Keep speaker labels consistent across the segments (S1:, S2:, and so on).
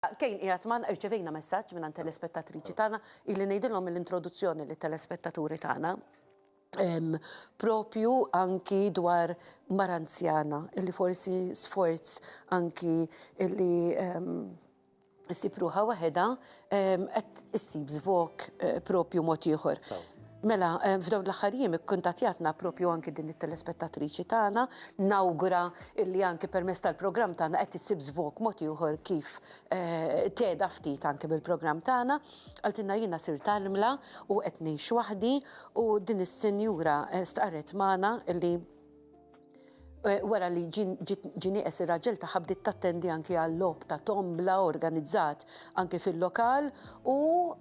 S1: Kane qiegħed magħna, irċevejna messaġġ mingħand telespettatriċi tagħna, ili ngħidilhom mill-introduzzjoni lit-telespettaturi tagħna, propju anki dwar mara anzjana li forsi sforz anki li ssib ruħha waħedha qed issib żvog propju mod ieħor. Mela, f'dawn l-aħħar jiem ikkuntattjatna proprju anki din it-telespettatriċi tagħna, nawgura illi anki permezz tal-programm tagħna qed issib żvog mod ieħor kif tgħedha ftit anki mill-programm tagħna. Qaltilna jiena sirt armla u qed ngħix waħdi u din is-sinjura stqarret magħna illi Wara li ġie nieqes ir-raġel tagħha bdiet tattendi anki għal logħob ta' tombla organizzat anki fil-lokal u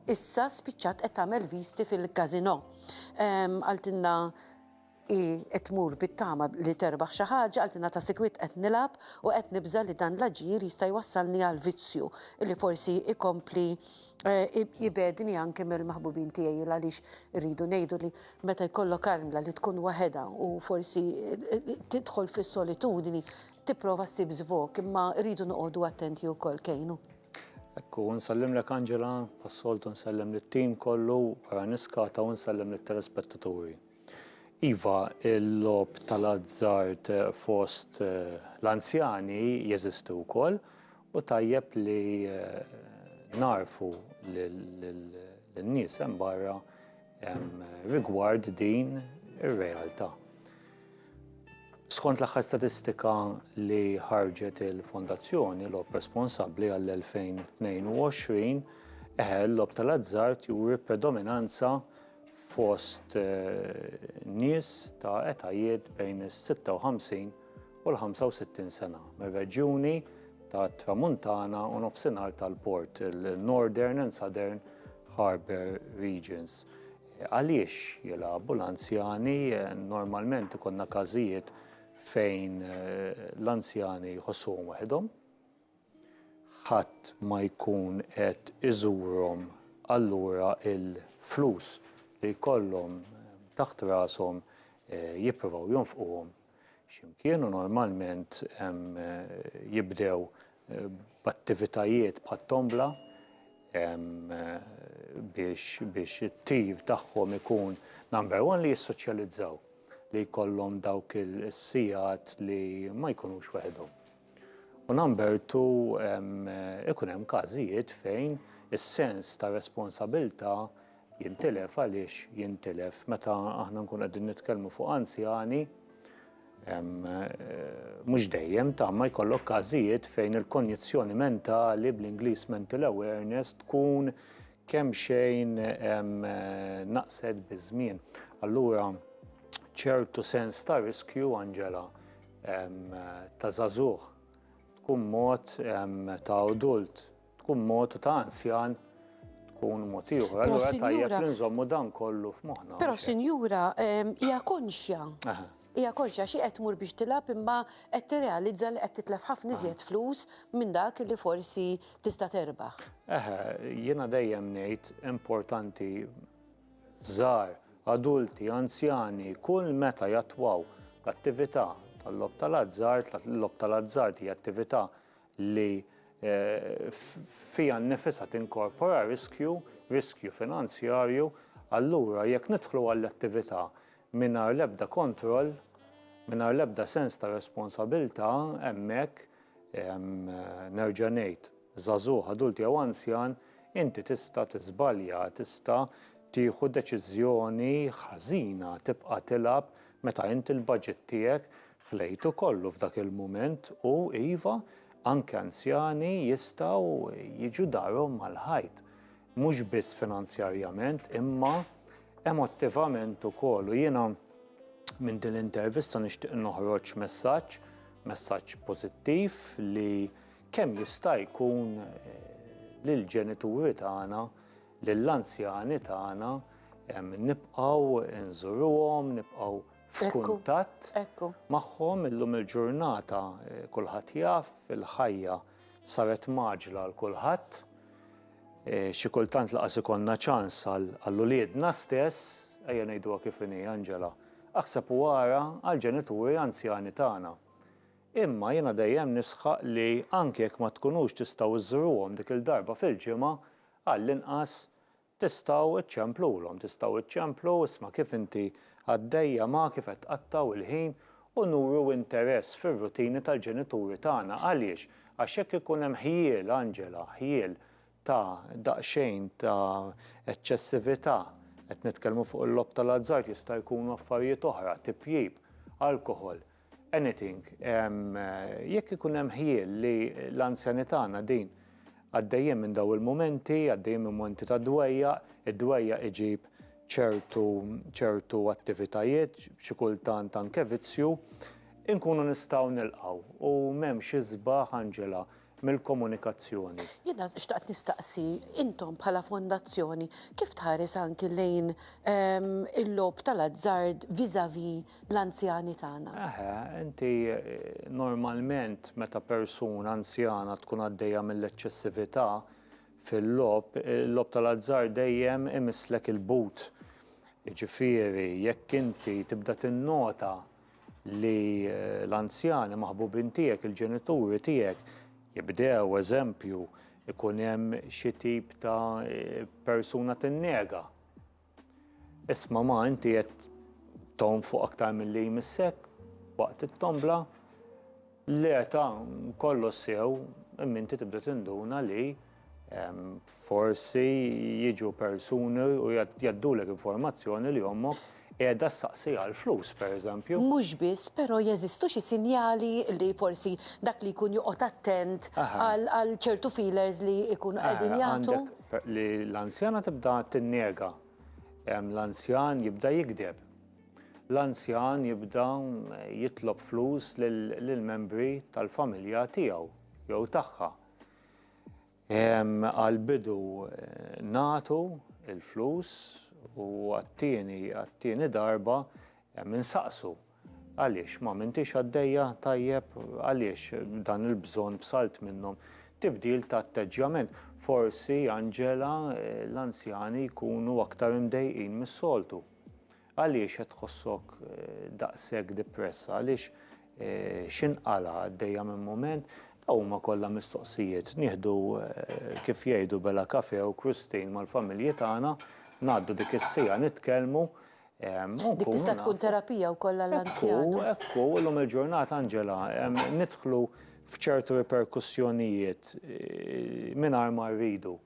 S1: issa spiċċat qed tagħmel viżti fil-każinò. Qaltilna hi qed tmur bit-tama li terbaħ xi ħaġa, qaltilna ta' sikwit qed nilgħab u qed nibża' li dan l-aġir jista' jwassalni għal vizzju li forsi jkompli jbegħdni anki mill-maħbubin tiegħi għaliex irridu ngħidu li Meta jkollok armla li tkun waħedha u forsi tidħol fis-solitudni, tipprova ssib żvog, imma rridu noqogħdu attenti wkoll, Kejnu. Hekk hu,
S2: nsellimlek Angela, bħas-soltu nsellem lit-tim kollu, wara niskata u nsellem lit-telespettaturi. Iva, il-logħob tal-azzard fost l-anzjani jeżisti wkoll u tajjeb li nagħrfu lin-nies hemm barra rigward din ir-realtà. Skont l-aħħar statistika li ħarġet il-Fondazzjoni Lob Responsabbli għall-2022, eħe l-lob tal-azzard juri predominanza fost eh, nies ta' etajiet bejn is-56 u l-65 sena mir-reġjuni tat-Tramuntana u Nofsinhar tal-Port, il-Northern and Southern Harbour Regions. Għaliex jilagħbu l-anzjani? Normalment ikonna każijiet fejn eh, l-anzjani jħossuhom waħedhom, ħadd ma jkun qed iżurhom allura il-flus li jkollhom taħt rashom eh, jippruvaw jonfquhom x'imkien u normalment jibdew b'attivitajiet bħat-tombla biex it-tim tagħhom ikun number one li jissoċjalizzaw, li jkollhom dawk is-sigħat li ma jkunux weħidhom. U number two ikun hemm każijiet fejn is-sens ta' responsabilità Jintilef għaliex jintilef meta aħna nkunu qegħdin nitkellmu fuq anzjani mhux dejjem ta' ma jkollok każijiet fejn il-konjizzjoni mentali bl-Ingliż mental awareness tkun kemm xejn naqset biż-żmien. Allura ċertu sens ta' riskju Angela ta' żagħżugħ tkun mod ta' adult tkun mod u ta' anzjan tkun mod ieħor. Allura tajjeb li nżommu dan kollu f'moħħna. Però sinjura
S1: ehm, hija konxja. Hija konxja xi qed tmur biex tilab imma qed tirrealizza li qed titlef ħafna iżjed flus minn dak li forsi tista' terbaħ. Eħe, jiena
S2: dejjem ngħid importanti żgħar, adulti, anzjani, kull meta jattwaw l-attività tal-lob tal-azzard, l-lob tal-azzard hija attività li fiha nnifisha tinkorpora riskju, riskju finanzjarju, allura jekk nidħlu għall-attività mingħajr l-ebda kontroll, mingħajr l-ebda sens ta' responsabilità, hemmhekk, nerġa' ngħid, żagħżugħ, adult jew anzjan, inti tista' tiżbalja, tista' tieħu deċiżjoni ħażina, tibqa' tilgħab meta inti l-baġit tiegħek Ħlejtu kollu f'dak il-mument u, iva, anke anzjani jistgħu jiġu darhom mal-ħajt. Mhux biss finanzjarjament imma emottivament ukoll u jiena minn din l-intervista nixtieq noħroġ messaġġ, messaġġ pożittiv li kemm jista' jkun lill-ġenituri tagħna, lill-anzjani tagħna nibqgħu nżuruhom, nibqgħu f'kuntatt magħhom illum il-ġurnata kulħadd jaf il-ħajja saret mgħaġġla għal kulħadd. Xi kultant laqas ikollna ċans għal uliedna stess, ejja ngħiduha kif inhi Angela, aħseb u ara għall-ġenituri anzjani tagħna. Imma jiena dejjem nisħaq li anke jekk ma tkunux tistgħu żżruhom dik il-darba fil-ġimgħa, għallinqas Tistgħu iċċemplulhom, tistgħu iċċemplu, isma' kif inti għaddejja ma, kif qed tqattgħu l-ħin u nuru interess fir-rutini tal-ġenituri tagħna. Għaliex? Għax jekk ikun hemm ħjiel, Angela, ħjiel ta' daqsxejn ta' eċċessività, qed nitkellmu fuq il-logħob tal-azzard, jista' jkunu affarijiet oħra, tipjip, alkoħol, Anything. Jekk ikun hemm ħjiel li l-anzjani tagħna din għaddejjin minn dawn il-mumenti, għaddejjin minn mumenti ta' dwejjaq, id-dwejjaq iġib ċertu ċertu attivitajiet, xi kultant anke vizzju, inkunu nistgħu nilqgħu u m'hemmx isbaħ Anġela mill-komunikazzjoni. Jiena xtaqt
S1: nistaqsi, intom bħala fondazzjoni, kif tħares anki lejn il-logħob tal-azzard vis-à-vis l-anzjani tagħna? Eħe, inti
S2: normalment meta persuna anzjana tkun għaddejja mill-eċċessività fil-logħob, il-logħob tal-azzard dejjem imisslek il-but. Jiġifieri jekk inti tibda tinnota li l-anzjani maħbubin tiegħek, il-ġenituri tiegħek, jibdew eżempju ikun hemm xi tip ta' persuna tinnega. Isma' ma inti qed tonfoq aktar milli jmissek waqt it-tombla, le ta' kollox sew, imma inti tibda tinduna li Forsi jiġu persuni u jgħaddulek informazzjoni li ommok qiegħda ssaqsi għal flus, pereżempju. Mhux biss, però
S1: jeżistu xi sinjali li forsi dak li jkun joqgħod attent għal ċertu feelers li jkunu qegħdin jagħtu? Li
S2: l-anzjana tibda tinnega, l-anzjan jibda jigdeb, l-anzjan jibda jitlob flus lill-membri tal-familja tiegħu jew tagħha. Għall-bidu nagħtu l-flus u għat-tieni għat-tieni darba insaqsu għaliex ma m'intix għaddejja tajjeb, għaliex dan il-bżonn fsalt minnhom. Tibdil ta' atteġġjament. Forsi Anġela l-anzjani jkunu aktar imdejqin mis-soltu. Għaliex qed tħossok daqshekk dipressa? Għaliex x'inqala' għaddejja minn mument? Dawn huma kollha mistoqsijiet. Nieħdu, kif jgħidu, bela kafè u krustin mal-familji tagħna, ngħaddu dik is-siegħa nitkellmu,
S1: u nkunu nafu. Dik tista' tkun terapija wkoll għall-anzjana. Ekku, ekku, illum
S2: il-ġurnata, Angela, nidħlu f'ċertu riperkussjonijiet mingħajr ma rridu.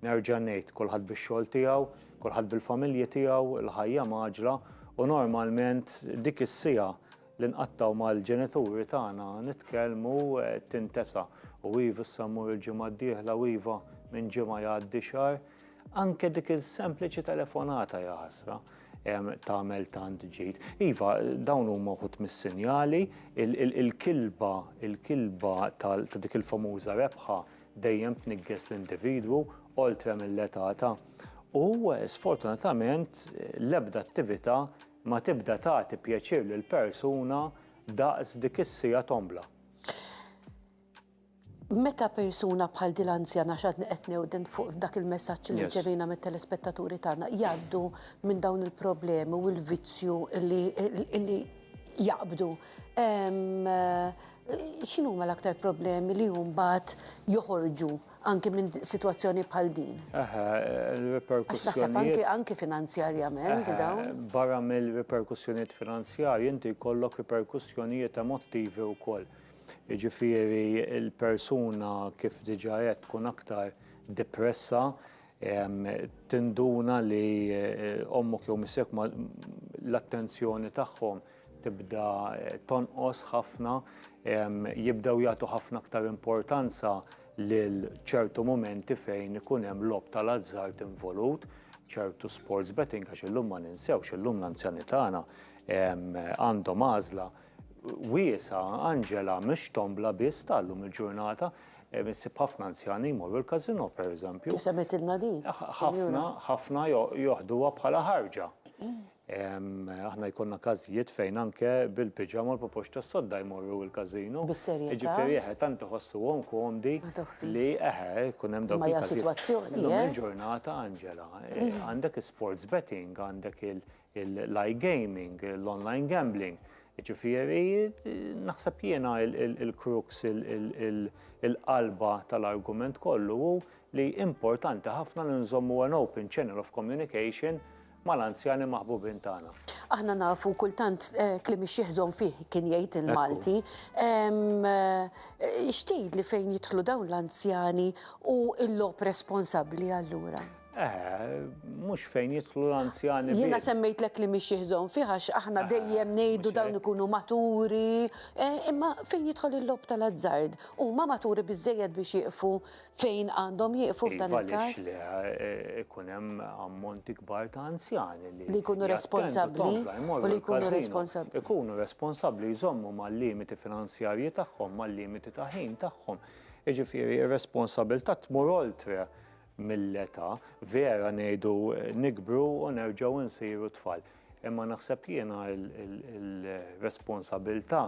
S2: Nerġa' ngħid, kulħadd bix-xogħol tiegħu, kulħadd bil-familji tiegħu, il-ħajja mgħaġġla u normalment dik is-siegħa li nqattgħu mal-ġenituri tagħna nitkellmu tintesa'. U iva issa mmur il-ġimgħa d-dieħla u iva minn ġimgħa jgħaddi xahar. Anke dik is-sempliċi telefonata ja ħasra tagħmel tant ġid. Iva, dawn huma wħud mis-sinjali, il-kilba, il-kilba ta' dik il-famuża rebħa dejjem tniggis l-individwu oltre mill-età ta' u sfortunatament l-ebda attività ma tibda tagħti pjaċir lill-persuna daqs dik is-siegħa tombla.
S1: Meta persuna bħal din l-anzjana għax għadni qed newden fuq dak il-messaġġ li rċevejna mit-telespettaturi tagħna jgħaddu minn dawn il-problemi u l-vizzju li jaqbdu. X'inhuma l-aktar problemi li mbagħad joħorġu anki minn sitwazzjoni bħal din? Eħe, il-riperkussjonijiet.
S2: Anki finanzjarjament
S1: dawn. Barra
S2: mill-riperkussjonijiet finanzjarji inti jkollok riperkussjonijiet emottivi wkoll. Jiġifieri l-persuna kif diġà għedt tkun aktar depressa, tinduna li ommok jew missierek l-attenzjoni tagħhom tibda tonqos ħafna, jibdew jagħtu ħafna aktar importanza lil ċertu mumenti fejn ikun hemm logħob tal-azzard involut, ċertu sports betting għax illum ma ninsewx, illum l-anzjani tagħna għandhom għażla wiesgħa, Angela, mhux tombla biss ta' llum il-ġurnata, issib ħafna anzjani jmorru l-casino pereżempju. Semmitilna din.
S1: Ħafna, ħafna
S2: joħduha bħala ħarġa. Aħna jkollna każijiet fejn anke bil-piġama u l-popoċ tas-sodda jmorru l-każino. Bis-serjetà? Jiġifieri eħe,
S1: tant
S2: iħossuhom komdi li eħe, jkun hemm dawk il-każijiet. Imma hija sitwazzjoni. Illum
S1: il-ġurnata,
S2: Angela, għandek is-sports betting, għandek l-iGaming, l-online gambling. Jiġifieri naħseb jiena l-crux, il-qalba tal-argument kollu hu li importanti ħafna li nżommu an open channel of communication mal-anzjani maħbubin tagħna. Aħna nafu
S1: kultant kliem ix-Xiħ Żon Fih kien jgħid il-Malti. X'tgħidli fejn jidħlu dawn l-anzjani u l-logħob responsabbli allura?
S2: Mhux fejn jidħlu l-anzjani. Jiena semmejtlek li
S1: mhix jiħżon fih għax aħna dejjem ngħidu dawn ikunu maturi, imma fejn jidħol il-lob tal-azzard huma maturi biżejjed biex jieqfu Fejn għandhom jieqfu f'dan il-każ? Iva, għaliex le, ikun
S2: hemm ammonti kbar ta' anzjani li. Li jkunu responsabbli
S1: u li jkunu responsabbli. Ikunu responsabbli
S2: jżommu mal-limiti finanzjarji tagħhom, mal-limiti ta' ħin tagħhom. Jiġifieri r-responsabilità tmur oltre mill-età, vera ngħidu nikbru u nerġgħu nsiru tfal. Imma naħseb jiena l-responsabilità,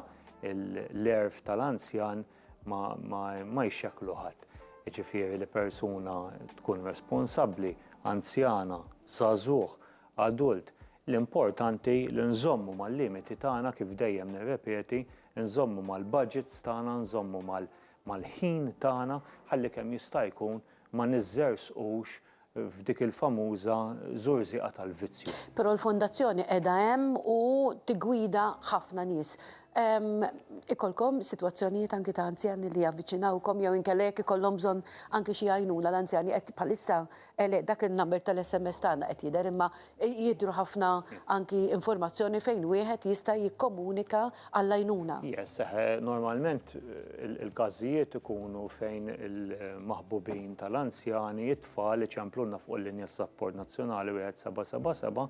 S2: l-għerf tal-anzjan, ma jxekklu ħadd. Jiġifieri li persuna tkun responsabbli, anzjana, żagħżugħ, adult, l-importanti li nżommu mal-limiti tagħna kif dejjem nirrepeti, nżommu mal-budgets tagħna, nżommu mal-ħin tagħna ħalli kemm jista' jkun ma niżżerżqux f'dik il-famuża żurżieqa tal-vizzju. Però l-Fondazzjoni
S1: qiegħda hemm u tiggwida ħafna nies. Ikollkom sitwazzjonijiet anki ta' anzjani li javviċinawkom jew inkella jekk ikollhom bżonn anki xi għajnuna l-anzjani qed bħalissa dak in-number tal-SMS tagħna qed jidher imma Jidhru ħafna anki informazzjoni fejn wieħed jista' jikkomunika għall-għajnuna. Yes, eħe,
S2: normalment il-każijiet ikunu fejn il-maħbubin tal-anzjani, it-tfal, iċemplulna fuq il-linja tas-sapport nazzjonali 1777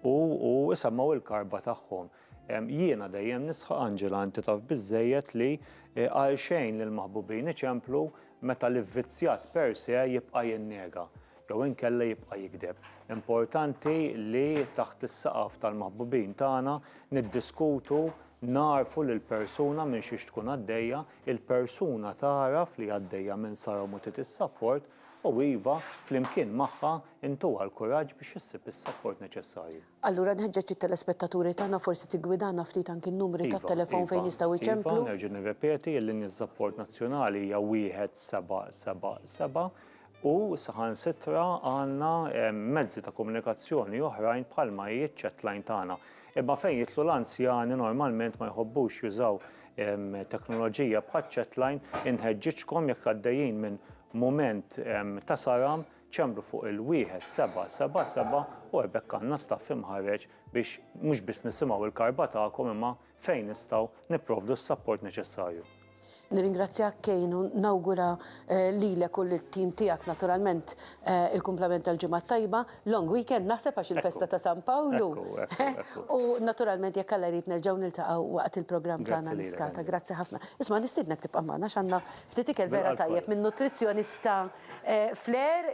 S2: u u isemmgħu l-karba tagħhom. Jiena dejjem nisħaq, Angela, inti taf biżżejjed li għalxejn l-maħbubin iċemplu meta l-ivvizzjat per se jibqa' jinnega. jew inkella jibqa' jigdeb. Importanti li taħt is-saqaf tal-maħbubin tagħna niddiskutu, nagħrfu lill-persuna minn xiex tkun għaddejja, il-persuna tagħraf li għaddejja minn sara u mutiet is-sapport, u iva, flimkien magħha, intuha l-kuraġġ biex issib is-sapport neċessarju. Allura nħeġġeġ
S1: it-telespettaturi tagħna forsi tiggwidana ftit anki n-numri tat-telefown fejn jistgħu jċemplu. Iva, iva, nerġa' nirrepeti
S2: li n-sapport nazzjonali hija 1777, u saħansitra għandna mezzi ta' komunikazzjoni oħrajn bħalma hi ċ-chat line tagħna. Imma fejn jidħlu l-anzjani normalment ma jħobbux jużaw teknoloġija bħaċ-chat line, inħeġġiġkom jekk għaddejjin minn mument ta' saram ċembru fuq il-1777 u hekk għandna staff imħarreġ biex mhux biss nisimgħu l-karba tagħkom imma fejn nistgħu nipprovdu s-sapport neċessarju. Nirringrazzjak
S1: Kane u nawgura lilek u lit-tim tiegħek naturalment il-kumplament tal-Ġimgħa t-Tajba, long weekend naħseb għax il-festa ta' San Pawlu. U naturalment jekk Alla jrid nerġgħu niltaqgħu waqt il-programm tagħna Niskata. Grazzi ħafna. Isma' nistiednek tibqa' magħna għax għandna ftit ikel vera tajjeb minn nutrizzjonista flair.